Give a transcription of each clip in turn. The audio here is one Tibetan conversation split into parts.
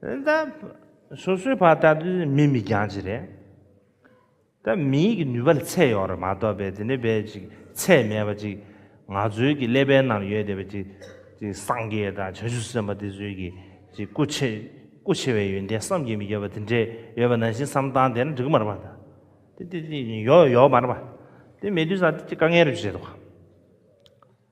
ད་སོ་སོའི་བར་ད་དུ་མི་མི་འགྱངས་ཅི་རེད། ད་མིའི་གི་ནུས་པ་ལ་ཚད་ཡོད་རེད་མ་གཏོགས་པའི་དེ་འདྲའི་བའི་ཅིག་ཚད་མེད་པ་ཅིག་ང་ཚོའི་གི་ཀླད་པའི་ནང་ཡོད་དེ་བས་ཅིག་ཅིག་སངས་རྒྱས་དང་བྱང་ཆུབ་སེམས་དཔའ་དེ་ཚོའི་གི་ཅིག་སྐུ་ཆེ་སྐུ་ཆེ་བའི་ཡོན་ཏན་བསམ་གྱིས་མི་ཁྱབ་པ་དེ་འདྲའི་ཡོད་པ་ནང་བཞིན་བསམ་སྟངས་དེ་འདྲ་འགྲིག་གི་མ་རེད་པ། དེ་དེ་ཡོད་ཡོད་མ་རེད་པ། དེ་མེད་དུས་ས་དེ་ཅིག་དཀའ་ངལ་རེ་བྱེད་དོ།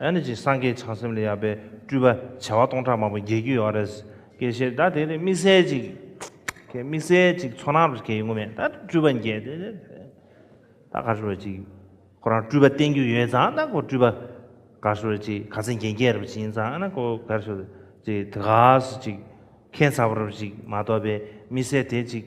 ཨ་ནི་ཅི་སངས་རྒྱས་བྱང་སེམས་ལས་ཡར་པའི་སྤྲུལ་པ་བྱེ་བ་སྟོང་ཕྲག་མང་པོ་བརྒྱད་རྒྱུ་ཡོད་རེད། ཀྱེ་ཞེས་ད་དེ་ནི་དམིགས་བསལ་ཅིག། ཀྱེ་དམིགས་བསལ་ཅིག་ཚོགས་ནང་རུ་ཀྱེ་ཡོད་ངོ་མེད་ད་སྤྲུལ་པ་བརྒྱད་དེ། ད་ག་ཞོར་ཅིག། ཁོ་རང་སྤྲུལ་པ་བསྟན་རྒྱུ་ཡོད་ཙང་ད་ཁོ་སྤྲུལ་པ། ག་ཞོར་ཅིག་ག་ཚེ་རྒྱན་རྒྱས་རབ་བྱིན་ཙང་ཨ་ན་ཁོ་ག་ཞོར་ཅིག་དེ་ག་སུ་ཅིག། མཁན་ཚ་བོ་རབ་ཅིག་མ་གཏོགས་པའི་དམིགས་བསལ་དེ་ཅིག།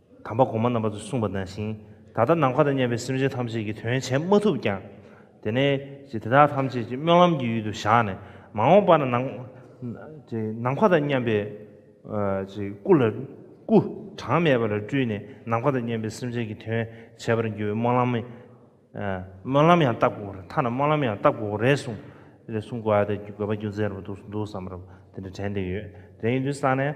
དམ་པ་གོང་མ་རྣམ་པ་ཚོས་གསུངས་པ་ནང་བཞིན་ད་ལྟ་ནམ་མཁའ་དང་མཉམ་པའི་སེམས་ཅན་ཐམས་ཅད་ཀྱི་དོན་བྱེད་མ་ཐུབ་ཀྱང། དེ་ནས་ཀྱི་དེ་དག་ཐམས་ཅད་ཀྱི་སྨོན་ལམ་གྱི་ཡུལ་དུ་བཞག་ནས་མ་འོངས་པ་ན་ནམ། ཀྱི་ནམ་མཁའ་དང་མཉམ་པའི། ཀྱི་སྐུ་ལ། སྐུ། གྲངས་མེད་པ་ལ་སྤྲུལ་ནས་ནམ་མཁའ་དང་མཉམ་པའི་སེམས་ཅན་གྱི་དོན་བྱེད་པར་འགྱུར་བའི་སྨོན་ལམ། སྨོན་ལམ་ཡང་བཏབ་དགོས་མཐའ་ན་སྨོན་ལམ་ཡང་བཏབ་དགོས་རེད་གསུངས། རེད་གསུངས་དགོས་ཨ་དགོས་པ་རྒྱུ་མཚན་རུ་འདུག་བསམ་རབས་དེ་འདྲ་དྲན་བསྡད་ཡོད། དེ་ཡིན་དུས་སང་ནས།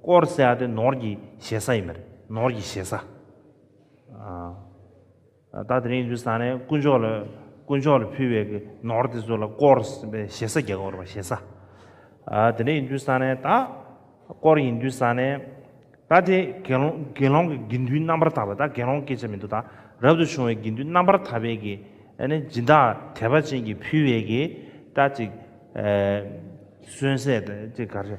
དཀོར་ཟས་ཨ་དེ་ནོར་གྱི་བཞེས་ས་ཡིན་པ་རེད་ནོར་གྱི་བཞེས་ས། ད་དེ་རིང་ཡིན་དུས་ས་ནས་དཀོན་མཆོག་ལ་དཀོན་མཆོག་ལ་ཕུལ་བའི་གི་ནོར་དེ་ཚོ་ལ་དཀོར་ཟས་བཞེས་ས་རྒྱ་གོར་བ་བཞེས་ས། དེ་འདྲ་ཡིན་དུས་ས་ནས་ད་དཀོར་ཡིན་དུས་ས་ནས་ད་དེ་དགེ་སློང་དགེ་སློང་གི་དགེ་འདུན་རྣམ་པར་དག་པ་ད་དགེ་སློང་སྐད་ཆ་མི་འདུག་ད་རབ་ཏུ་བྱུང་བའི་དགེ་འདུན་རྣམ་པར་དག་པའི་གི་ཨ་ནི་སྦྱིན་བདག་དད་པ་ཅན་གྱིས་ཕུལ་བའི་གི་ད་ཅིག་གསོན་ཟས་ད་ཅིག་ག་རེ།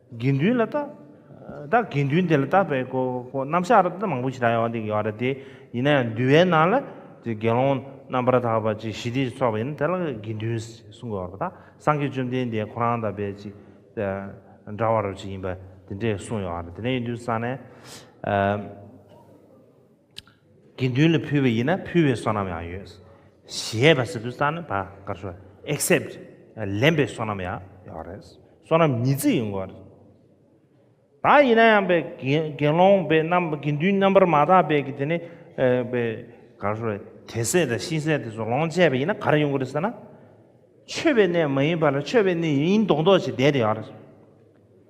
དགེ་འདུན་ལ་བརྟག། ད་དགེ་འདུན་དེ་ལ་བརྟག་པའི་སྐོར་སྐོར་རྣམ་གཞག་ར་མང་པོ་ཞིག་གྲགས་ཡོང་བ་འདི་ཡོད་རེད་དེ། ཡིན་ན་ཡང་འདུལ་བའི་ནང་ལ། དེ་དགེ་སློང་རྣམ་པར་དག་པ་ཅིག་ཞི་བདེ་ཅིག་ཚོགས་པ་ཡིན་ན་དེ་ལ་དགེ་འདུན་གསུང་དགོས་པ་རེད་དཱ། སངས་རྒྱས་བཅོམ་ལྡན་འདས་ཁོ་རང་དང་བས་ཅིག། འདྲ་བ་རུ་ཅིག་ཡིན་པ་དེ་འདྲས་གསུངས་ཡོད་རེད་དེ་ནས་ཡིན་དུས་སང་ནས། དགེ་འདུན་ལ་ཕུལ་བ་ཡིན་ན་ཕུལ་བའི་བསོད་ནམས་ཡང་ཡོད། ཞེས་པ་ཟེར་དུས་རྩ་ནི་བར་དཀར་ཞོ except ལེན་པའི་བསོད་ནམས་ཡང་ཡོད་རེད། བསོད་ནམས་ཉིས་བརྩེགས་ཡིན་དགོས། ད་ཡིན་ན་ཡང་དགེ་སློང་པའི་རྣམ་དགེ་འདུན་རྣམ་པར་མ་དག་པའི་གི་དེ་ནི་དགར་ཞོ་དེ་བསད་དང་ཤིང་བསད་དེ་ཚོ་ལོངས་སྤྱད་པ་ཡིན་ན་གར་ཡོང་གི་རེད་ཟེར་ན། མཆོད་པའི་གནས་མ་ཡིན་པ་ལ་མཆོད་པའི་གནས་ཡིན་མདོག་མདོག་བྱས་བསྡད་དེ་ཡོད་རེད།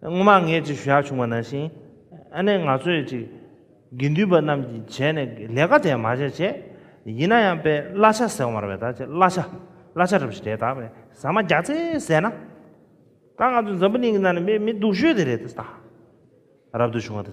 སྔོན་མ་ངས་ཅིག་བཞག་བྱུང་བ་ན་བཞིན། ཨ་ནེ་ང་ཚོས་ཅིག། དགེ་འདུན་པ་རྣམས་ཀྱིས་བྱས་ནས་ལས་ཀ་དེ་མ་བྱས་བྱས། ཡིན་ན་ཡང་པས་གླ་ཆ་ཟེར་བར་བས་ད་ཅེ་གླ་ཆ། གླ་ཆ་རབས་ཞིག་རེད་ད་བས་ཟ་མ་རྒྱག་ཚེ་ཟས་ན། ད་ང་ཚོ་འཛམ་བུ་གླིང་གི་ནང་ནས་མི་མི་སྡུག་ཤོས་དེ་རེད་ད། རབ་ཏུ་བྱུང་བ་དེ།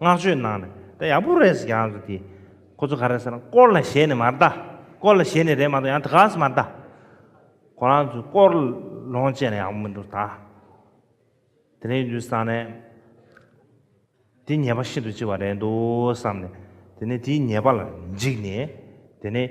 བསྔགས་བརྗོད་གནང་ནས་ད་ཡག་པོ་རེད་ཟེར་གྱི་ཨང་ཀི་དེ། ཁོ་ཚོ་ག་རེ་ཟེར་ན་སྐོར་ལ་ཞེད་ནས་མ་གདའ། སྐོར་ལ་ཞེད་ནས་རེད་མ་གཏོགས་ཡང་དེ་ག་ས་མ་གདའ། ཁོ་རང་ཚོས་སྐོར་ལོངས་སྤྱད་ན་ཡག་པོ་མི་འདུག་ད། དེ་རིང་དུས་སང་ནས། དེ་ཉེས་པ་ཤིན་ཏུ་ལྕི་བ་རེད་འདུག་བསམ་ནས་དེ་ནས་དེའི་ཉེས་པ་ལ་འཇིགས་ནས་དེ་ནས།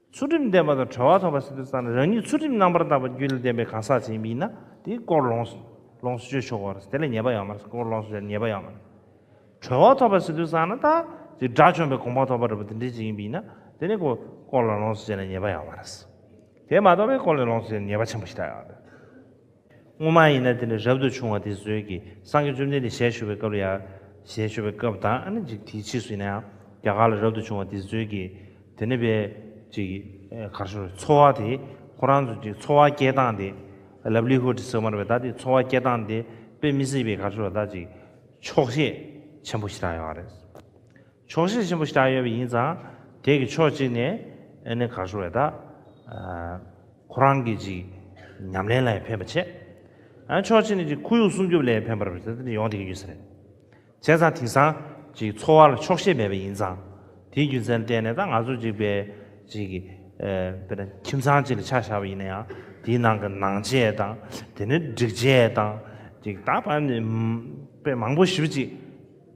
ཚུལ་ཁྲིམས་ལྡན་པ་དང་གྲོལ་བ་ཐོབ་པ་སྲིད་དུ་བརྩམས་ནས་རང་ཉིད་ཚུལ་ཁྲིམས་རྣམ་པར་དག་པ་རྒྱུད་ལ་ལྡན་པའི་གང་ཟག་ཅིག་ཡིན་པ་ཡིན་ན་དེའི་སྐོར་ལོངས་སུ་སྤྱོད་ཆོག་གོ། དེ་ལས་ཉེས་པ་ཡང་མེད་སྐོར་ལོངས་སུ་སྤྱོད་ཉེས་པ་ཡང་མེད། གྲོལ་བ་ཐོབ་པ་སྲིད་དུ་བརྩམས་ན་དག་ཅིག་དགྲ་བཅོམ་པའི་དགོངས་པ་ཐོབ་པར་རབ་ཏུ་འདྲིལ་ཅིག་ཡིན་པ་ཡིན་ན་དེ་ནི་གོ། སྐོར་ལ་ལོངས་སུ་སྤྱད་ན་ཉེས་པ་ཡང་མེད། དེ་མ་གཏོགས་པའི་སྐོར་ལས་ལོངས་སུ་སྤྱད་ན་ཉེས་པ་ཆེན་པོ་ཞིག་དག་ཡོད། སྔོན་མ་ཡིན་ན་དེ་ནི་རབ་ཏུ་བྱུང་བ་དེ་བཟོད་ཀྱི་སངས་རྒྱས་བཅོམ་ལྡན་འདས་ཞལ་བཞུགས་པའི་སྐབས་ལ་ཡང་ཞལ་བཞུགས་པའི་སྐབས་དང་ཨ་ནི་ཅིག་དེའི་ཕྱིས་སུ་ཡིན་ན་ཡང་རྒྱ་གར་ལ་རབ་ཏུ་བྱུང་བ་དེ་བཟོད་ཀྱི་དེ་ནི་པའི་ཅིག་གར་བྱུང་བའི་འཚོ་བ་དེ་ཁོ་རང་ཚོ་ཅིག་འཚོ་བ་སྐྱེལ་སྟངས་དེ Livelihood ཟེར་མར་བའི་དག་དེ་འཚོ་བ་སྐྱེལ་སྟངས་དེ་དཔེ་མི་སྲིད་པའི་གར་བྱུང་བ་དག་ཅིག་ཆོག་ཤེས་ཆེན་པོ་ཞི་དྲག་ཡོད་པ་རེད། ཆོག་ཤེས་ཆེན་པོ་ཞི་དྲག་ཡོད་པ་ཡིན་ཙང་དེ་གི་ཕྱོགས་གཅིག་ནས་ཨ་ནི་གར་བྱུང་བའི་དག་ཁོ་རང་གིས་ཅིག་ཉམས་ལེན་ལ་ཡང་ཕན་པ་ཆེ། ཨ་ཕྱོགས་གཅིག་ནས་ཅིག་ཁོར་ཡུག་སྲུང་སྐྱོབ་ལ་ཡང་ཕན་པར་ཡོང་དགོས་ཀྱི་ཡོད་ས་རེད། བྱས་ཙང་དེང་སང་ཅིག་འཚོ་བ་ལ་ཆོག་ཤེས་མེད་པ་ཡིན་ཙང། དེའི་རྒྱུ་མཚན་བསྟན་ནས་ད་ང་ཚོ་ཅིག་དཔེ་ཅིག་དཔེར་ན་ཁྱིམ་ཚང་ཅིག་ལ་ཆ་བཞག་པ་ཡིན་ན་ཡང་དེའི་ནང་གི་ནང་ཆས་དང་དེ་ནས་སྒྲིག་ཆས་དང་ཅིག་ད་བར་ནས་དཔེ་མང་པོ་ཞིབ་ཅིག་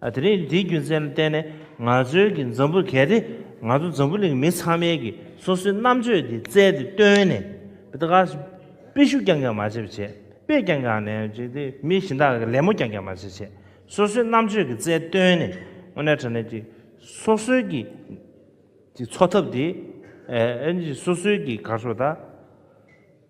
དེ་རིང་འདིའི་རྒྱུ་མཚན་བསྟན་ནས་ང་ཚོའི་གི་འཛམ་བུ་གལ་ཏེ་ང་ཚོ་འཛམ་བུ་གླིང་མི་ཚང་མའི་གི་སོ་སོའི་རྣམ་དཔྱོད་དེ་བཙལ་ཏེ་བཏོན་ནས་དེ་ག་དཔེ་ཤུགས་རྐྱང་རྐྱང་མ་བྱེད་པ་བྱས་དཔེ་རྐྱང་རྐྱང་ནས་བྱེད་དེ་མི་གཞན་དག་གི་ལད་མོ་རྐྱང་རྐྱང་མ་བྱེད་བྱས་སོ་སོའི་རྣམ་དཔྱོད་གི་བཙལ་བཏོན་ནས་དངོས་གནས་དྲན་ནས་གི་སོ་སོའི་གི་གི་འཚོ་ཐབས་དེ་ཨེ་ཨེ་ནས་གི་སོ་སོའི་གི་གར་སོ་ད།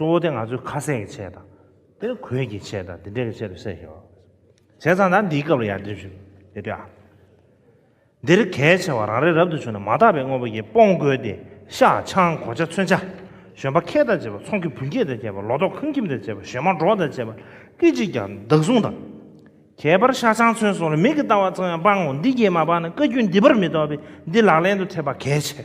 གཙོ་བོ་དེ་ང་ཚོའི་ཁ་ཟས་ཀྱི་ཆེད་དང། དེ་ནི་གོས་ཀྱི་ཆེད་དང་དེ་འདྲའི་ཆེད་དུ་བསྲེགས་ཤིང། བྱས་ཙང་ད་འདིའི་སྐབས་ལ་ཡར་འདེམས་ཤིག་ཡོད་དུས་ཨ། འདིར་གལ་ཆེ་བ་རང་རེ་རབ་ཏུ་བྱུང་ནས་མ་དག་པའི་དངོས་པོ་ཡིས་སྤོང་བཀོལ་ཏེ་ཤ་ཆང་གོ་ཆ་མཚོན་ཆ། བཞོན་པ་ཁལ་དང་བཅས་པ་ཚོང་གི་བུན་སྐྱེད་དང་བཅས་པ་ལོ་ཏོག་ཁང་ཁྱིམ་དང་བཅས་པ་བཞོན་མ་འབྲོག་དང་བཅས་པ་སྐད་ཅིག་ཀྱང་བདག་བཟུང་དང། ཁྱད་པར་ཤ་ཆང་མཚོན་སོགས་ལ་མིག་གིས་བལྟ་བ་ཙམ་ཡང་སྤང་ངོ་འདི་བརྒྱད་མ་སྤངས་ན་བཀའ་རྒྱུད་འདི་པར་མི་རྟོགས་པས་འདི་ལག་ལེན་དུ་འཐད་པ་གལ་ཆེ།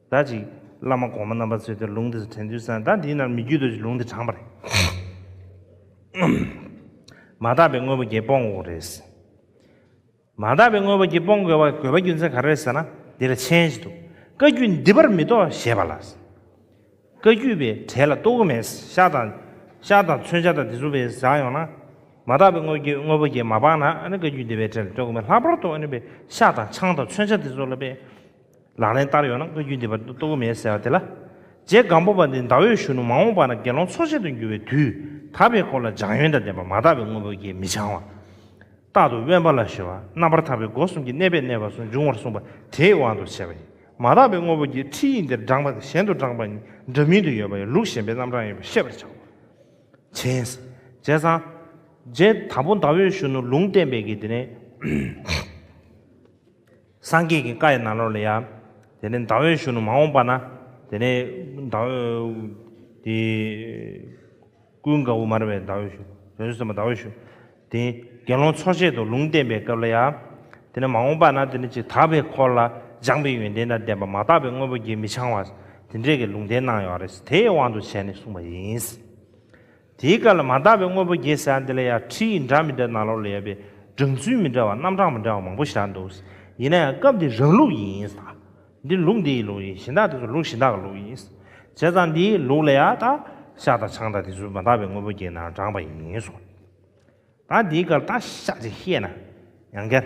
ཟླ་གཅིག། བླ་མ་གོང་མ་རྣམ་པར་ཚུད་དེ་ལུང་དེ་སུ་དྲན་དུས་སང་ཟླ་འདིའི་ནར་མི་རྒྱུད་དུ་ལུང་དེ་དྲངས་པ་རེད། མ་དག་པའི་དངོས་པོ་བརྒྱད་སྤོང་དགོས་རེད། མ་དག་པའི་དངོས་པོ་བརྒྱད་སྤོང་དགོས་པ་རྒྱུ་མཚན་ག་རེ་རེད་ཟེར་ན་འདི་ལ་མཆན་ཞིག་འདུག་བཀའ་རྒྱུད་འདི་པར་མི་གཏོགས་ཞེས་པ་ལ། བཀའ་རྒྱུད་པའི་གྲལ་ལ་གཏོགས་གི་མེད། ཤ་དང། ཤ་དང་མཚོན་ཆ་དང་དེ་ཚུ་བས་བཞག་ཡོང་ན། མ་དག་པའི་དངོས་པོ་བརྒྱད་མ་སྤངས་ན་ཨ་ནི་བཀའ་རྒྱུད་འདི་པའི་གྲལ་ལ་གཏོགས་གི་མེད་ལྷག་པར་དུ་ཨ་ནི་པའི་ཤ་དང་ཆང་དང་མཚོན་ཆ་དེ་ཚོ་ལ་དཔེ། ལག་ལེན་བསྟར་ཡོང་ན་བཀའ་རྒྱུད་འདི་པར་ལྟོ་གོས་མེད་ཟེར་བ་དེ་ལ། རྗེ་སྒམ་པོ་པ་འདི་ཟླ་འོད་གཞོན་ནུ་མ་འོངས་པ་ན་དགེ་སློང་འཚོ་བྱེད་དུ་འགྱུར་བའི་དུས་ད་པའི་སྐོར་ལ་སྦྱང་ཡོན་དང་ལྡན་པ་མ་དག་པའི་དངོས་པོ་བརྒྱད་མི་འཆང་བ། རྟག་ཏུ་དབེན་པ་ལ་ཞི་བ་རྣམ་པར་དག་པའི་སྒོ་གསུམ་གྱི་གནས་པས་གནས་པ་སུ་འབྱུང་བར་གསུངས་པ་དེའི་དབང་དུ་བྱས་པ་ཡིན། མ་དག་པའི་དངོས་པོ་བརྒྱད་ཁྲིད་ཡིག་འདིར་བགྲངས་པ་དང་གཞན་དུ་བགྲངས་པ་གཉིས་འདྲ་མིན་དུ་ཡོད་པ་ཡང་ལུགས་གཞན་པའི་རྣམ་གྲངས་ཡོད་པས་ཤེས་པར་བྱའོ། བྱས། བྱས་ཙང། རྗེ་དང་པོ་ཟླ་འོད་གཞོན་ནུ་ལུང་བསྟན་པའི་དགེ་འདུན། སངས་རྒྱས་ཀྱི་བཀའ་ཡི་ནང་ལོགས་ལ་ཡང། དེ་ནས་ཟླ་འོད་ཞུ་ནུ་མ་འོངས་པ་ན། དེ་ནས་ཟླ་འོད། དེ། ཀུན་དགའ་བོ་མར་བས་ཟླ་འོད་ཞུ། དོན་གསུམ་པ་ཟླ་འོད་ཞུ། དེ། དགེ་སློང་འཚོ་བྱེད་དུ་ལུང་བསྟན་པའི་སྐབས་ལ་ཡང། དེ་ནས་མ་འོངས་པ་ན་དེ་ནི་ཅིག་དག་པའི་འཁོར་ལ་སྦྱངས་པའི་ཡོན་ཏན་དང་ལྡན་པ་མ་དག་པའི་དངོས་པོ་བརྒྱད་མི་འཆང་བ། དེ་འདྲས་ཀྱི་ལུང་བསྟན་གནང་ཡོད་རེད། དེའི་དབང་དུ་བྱས་ནས་གསུངས་པ་ཡིན། དེའི་སྐབས་ལ་མ་དག་པའི་དངོས་པོ་བརྒྱད་བྱ་འདི་ལ་ཡང་ཁྲིད་ཡིག་འདྲ་མི་འདྲ་ནང་ལོགས་ལ་ཡོད་པས་བསྒྲིགས་ཚུལ་མི་འདྲ་བ་རྣམ་གྲངས་མི་འདྲ་བ་མང་པོ་བཞག་འདུག་ཡིན་ན་ཡང་སྐབས་འདིའི་རང་ལུགས་ཡིན་དང། འདི་ལུགས་འདི་ཡི་ལུགས་ཡིན་གཞན་དག་དེ་ཚོ་ལུགས་གཞན་དག་གི་ལུགས་ཡིན། བྱས་ཙང་འདིའི་ལུགས་ལ་ཡང་དག་ཤ་དང་ཆང་དང་དེ་ཚུལ་མ་དག་པའི་དངོས་པོ་བརྒྱད་ནང་དྲངས་པ་ཡིན་གསུང། ད་འདིའི་སྐབས་ལ་བརྟག་བཞག་ཅིག་ཤེས་ན་ཡང་འགལ།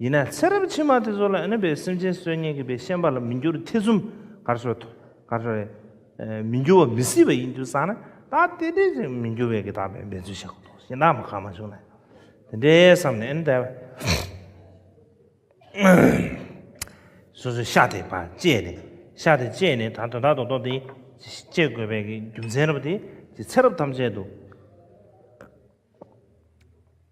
ཡིན་ན་ཚེ་རབས་ཕྱི་མ་དེ་ཚོ་ལ་ཨེ་ན་བའི་སེམས་ཅན་སྲོལ་ངན་གྱི་བའི་ཤན་པ་ལ་མི་འགྱུར་ཐེ་ཚོམ་གར་སོ་ཐོ་གར་སོ་རེ་མི་འགྱུར་བ་མི་སྲིད་པ་ཡིན་རྒྱུ་བསམ་ན་ད་ལྟའི་འདྲའི་ཚེ་མི་འགྱུར་བའི་གི་དག་པའི་འབད་རྩོལ་བྱ་དགོས་འདུག་ཤེས་ན་མ་གང་མ་བྱུང་ན་དེ་འདྲའི་བསམ་ནས་ཨེ་ན་བ་སོ་སོའི་ཤ་དེ་བ་བཅད་ནས་ཤ་དེ་བཅད་ནས་ད་དོན་དག་དོན་ཏོ་དེ་བཅད་དགོས་པའི་གི་རྒྱུ་མཚན་རབ་དེ་ཚེ་རབས་ཐམས་ཅད་དུ།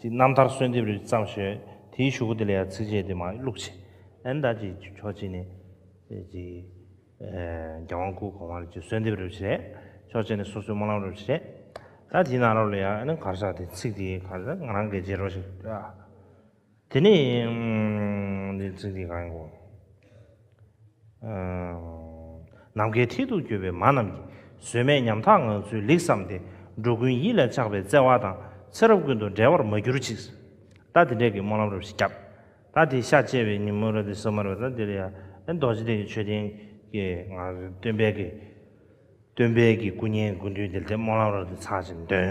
ཀྱི་རྣམ་ཐར་གསོལ་འདེབས་རེ་བརྩམས་ཞོལ། དེའི་ཞུ་སྒོ་དེ་ལ་ཡང་ཚིགས་བཅད་དེ་མ་བླུགས་ཆེ། ཨན་ད་ཅིག་ཆོག་ཅིག་ནས། ཀྱི། རྒྱལ་དབང་སྐུ་གོང་མ་རེ་ཅིག་གསོལ་འདེབས་རེ་བྱེད། ཆོག་ཅིག་ནས་སོ་སོའི་སྨོན་ལམ་རེ་བྱེད། ད་དེའི་ནང་རོ་ལ་ཡང་ཨན་གར་ཤག་དེ་ཚིག་དེའི་གར་ཤག་ང་རང་གས་བྱེད་རོགས་ཞེས་བཀྲལ། དེ་ནས། འདིའི་ཚིག་དེ་གང་ཡིན་གོ། ནམ་མཁའི་མཐིལ་དུ་སྐྱོད་པའི་མ་རྣམས་ཀྱིས་བཟོད་མེད་ཉམ་ཐག་ངང་ཚུལ་ལེགས་བསམ་སྟེ་འགྲོ་ཀུན་ཡིད་ལ་ཆགས་པའི་བརྩེ་བ་དང་ཚེ་རབས་ཀུན་ཏུ་འབྲལ་བར་མ་གྱུར་ཅིག། ད་དེ་འབྲས་ཀྱི་སྨོན་ལམ་རབ་ཞིག་བརྒྱབ། ད་དེའི་ཤ་བཅད་པའི་ཉིན་མོ་ར་དེ་སོ་མར་བས་ད་དེ་ལ་ཡང་རྡོ་རྗེ་གདན་གྱི་མཆོད་རྟེན་གྱི་ངང་སྟོན་དཔལ་གྱི་སྟོན་དཔལ་གྱི་སྐུ་བརྙན་དགུ་འདུས་དེ་ལྟའི་སྨོན་ལམ་རབ་ཏུ་འཚང་ཞིང་འདོན།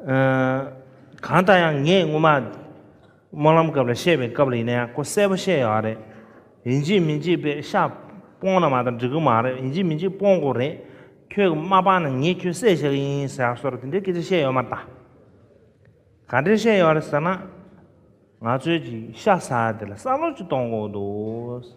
གང་ལྟར་ཡང་ངས་སྔོན་མ། སྨོན་ལམ་སྐབས་ལ་བཤད་པའི་སྐབས་ལ་ཡིན་ན་ཡང་ཁོ་གསལ་པོ་བཤད་ཡོད་རེད། ཡིན་གཅིག་མིན་གཅིག་པས་ཤ་སྤོང་ན་མ་ད་འགྲིག་གི་མ་རེད་ཡིན་གཅིག་མིན་གཅིག་སྤོང་དགོས་རེད། ཁྱོད་ཀྱི་མ་སྤངས་ན་ངས་ཁྱོད་གསད་བྱ་གི་ཡིན་ཟེར་བ་སོགས་དེ་འདྲའི་སྐད་ཆ་བཤད་ཡོད་མ་ད། ག་འདྲས་བཤད་ཡོད་རེད་ཟེར་ན། ང་ཚོས་ཀྱིས་ཤ་ཟ་བ་དེ་ལ་བསམ་བློ་ཅིག་གཏོང་དགོས་འདུག།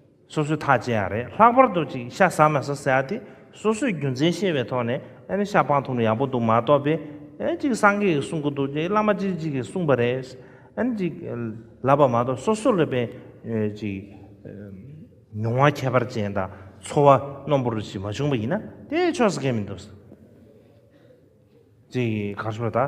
སོ་སོའི་ཐག་བཅད་ཡ་རེད་ལྷག་པར་དུ་ཅིག་ཤ་ཟ་མ་ཟ་ཟེར་ཡ་དེ་སོ་སོས་རྒྱུ་མཚན་ཤེས་པའི་ཐོག་ནས་ཨ་ནི་ཤ་པང་འཐུང་ན་ཡག་པོ་འདུག་མ་གཏོགས་པས་ཨ་ཅིག་སངས་རྒྱས་ཀྱིས་གསུང་གི་འདུག་ཅིག་བླ་མ་ཅིག་ཅིག་གིས་གསུངས་པ་རེད་ཨ་ནི་ཅིག་ལབ་པ་མ་གཏོགས་སོ་སོ་ལ་བས་ཅིག་མྱོང་བ་ཁྱད་པར་ཅན་དང་འཚོ་བ་རྣོན་པོར་ཞིག་མ་བྱུང་བ་ཡིན་ན་དེའི་ཕྱོགས་སུ་འགལ་མི་འདུག་ཅིག་གང་ཞུ་བ་དང།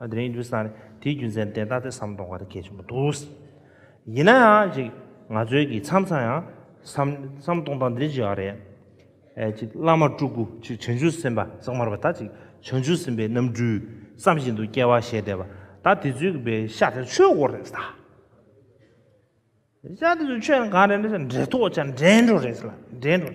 དེ་རིང་དུས་སང་དེའི་རྒྱུ་མཚན་དེ་ལྟ་སྟེ་བསམ་གཏོང་ག་རེ་གལ་ཆེན་པོ་འདུག། ཡིན་ན་ཡང་ཅིག་ང་ཚོའི་གི་མཚམས་མཚམས་ཡང་བསམ་བསམ་གཏོང་སྟངས་འདི་ཅིག་ཨ་རེད། ཅིག་བླ་མ་སྤྲུལ་སྐུ་ཅིག་བྱང་ཆུབ་སེམས་དཔའ་གསང་བར་བ་ད་ཅིག་བྱང་ཆུབ་སེམས་དཔའི་རྣམ་སྤྲུལ་བསམ་བཞིན་དུ་སྐྱེ་བ་བཞེས་བསྡད་པ་ད་དེ་ཚོའི་གི་བའི་ཤ་དེ་ཆོས་སྒོ་རེད་ད། ཤ་དེ་ཚོ་ཆོས་གང་རེད་འདྲེ་ཐོག་ཅག་འདྲེ་འགྲོ་རེད་ལ་འདྲེ་འགྲོ།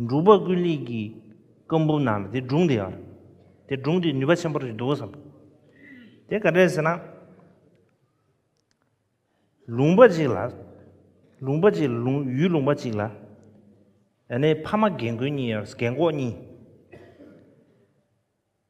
འབྲུག་པ་ཀུན་ལེགས་ཀྱི་བཀའ་འབུམ་ནང་ལ་དེ་སྒྲུང་དེ་ཡོད། དེ་སྒྲུང་དེ་ནུས་པ་ཆེན་པོ་རེད་འདུག་བསམ། དེ་ག་དྲན་ཟེར་ན། ལུང་པ་ཅིག་ལ། ལུང་པ་ཅིག་ལ་ཡུལ་ལུང་པ་ཅིག་ལ། ཡང་ན་ཕ་མ་རྒན་རྒོན་གཉིས་ཡོད་རེད། རྒན་གོག་གཉིས།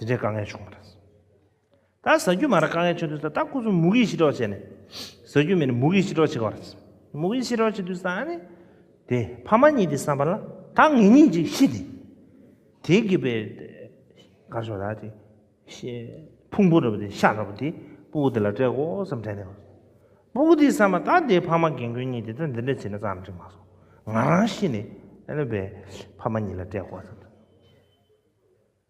དེ་འདྲའི་དཀའ་ངལ་བྱུང་བ་རེད། ད་ཟ་རྒྱུ་མ་རེད་དཀའ་ངལ་ཆེ་དུས་ད་སྐུ་གསུམ་མུ་གེའི་ཤི་གྲོགས་བྱས་ནས་ཟ་རྒྱུ་མེད་ནས་མུ་གེའི་ཤི་གྲོགས་བྱེད་དགོས་པ་རེད། མུ་གེའི་ཤི་གྲོགས་བྱེད་དུས་ད་ནི། དེ་ཕ་མ་གཉིས་དེ་བསམ་པ་ལ་ད་ངེད་གཉིས་ཀྱིས་ཤི་དེ། དེ་གི་པའི། གར་ཤོག་དག་དེ། ཕུང་པོ་རེད་པོ་དེ་ཤ་རེད་པོ་དེ་སྤུ་གུ་དེ་ལ་སྤྲད་དགོ་བསམ་དྲན་ནས། སྤུ་གུ་དེ་བསམ་པ་ད་དེ་ཕ་མ་རྒན་རྒོན་གཉིས་དེ་ད་འདི་འདྲ་བྱས་ན་ཙང་འགྲིག་མ་སོང། ང་རང་ཤི་ནས། ཨ་ནུ་པའི་ཕ་མ་གཉིས་ལ་སྤྲད་དགོ་བསམ་དྲན།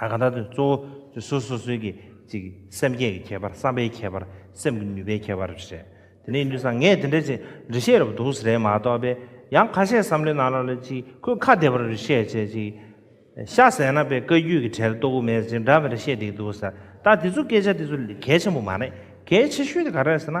ད་ག་ད་དུ་གཙོ་བོ་དེ་སོ་སོ་སོའི་གི་ཅིག་སེམས་བསྐྱེད་ཀྱི་ཁྱད་པར་བསམ་པའི་ཁྱད་པར་སེམས་ཀྱི་ནུས་པའི་ཁྱད་པར་རེད། དེ་ནས་འདུས་ས་ངས་དེ་འདྲ་ཅིག་འདྲི་བཤད་རབ་འདུག་ཟེར་རན་མ་གཏོགས་པས་ཡང་ཁ་ཤས་བསམ་བློའི་ནང་ལ་ལ་ཅིག་ཁོས་ཁ་བདེ་བར་རེ་བཤད་བྱས་ཅིག་ཤ་ཟས་ན་པའི་བཀའ་རྒྱུད་ཀྱི་གྲལ་གཏོགས་དབུ་མའི་ཅིག་འདྲ་བའི་རེ་བཤད་འདེགས་འདུག་ཟེར་ད་དེ་ཚོ་སྐད་ཆ་དེ་ཚོ་གལ་ཆེན་པོ་མ་རེད་གལ་ཆེ་ཤོས་དེ་ག་རེད་ཟེར་ན།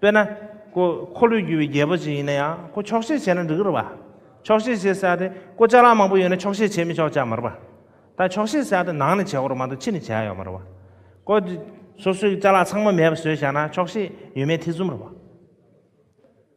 དཔེར་ན། ཁོ་འཁོར་ལོས་སྒྱུར་བའི་རྒྱལ་པོ་ཞིག་ཡིན་ན་ཡང་ཁོ་ཆོག་ཤེས་བྱས་ན་འགྲིག་གི་རེད་པ། ཆོག་ཤེས་བྱེད་ས་དེ་ཁོ་ལྕགས་ལམ་མང་པོ་ཡོད་ན་ཆོག་ཤེས་བྱེད་མི་ཆོག་ཅག་མ་རེད་པ། ད་ཆོག་ཤེས་ས་དེ་ནང་ནས་བྱེད་དགོས་རོགས་མ་གཏོགས་ཕྱི་ནས་བྱེད་ཡག་ཡོད་མ་རེད་པ། ཁོ་སོ་སོའི་ལྕགས་ལམ་ཚང་མ་མེད་པ་བཟོས་བཞག་ན་ཆོག་ཤེས་ཡོད་མེད་ཐེ་ཚོམ་རེད་པ།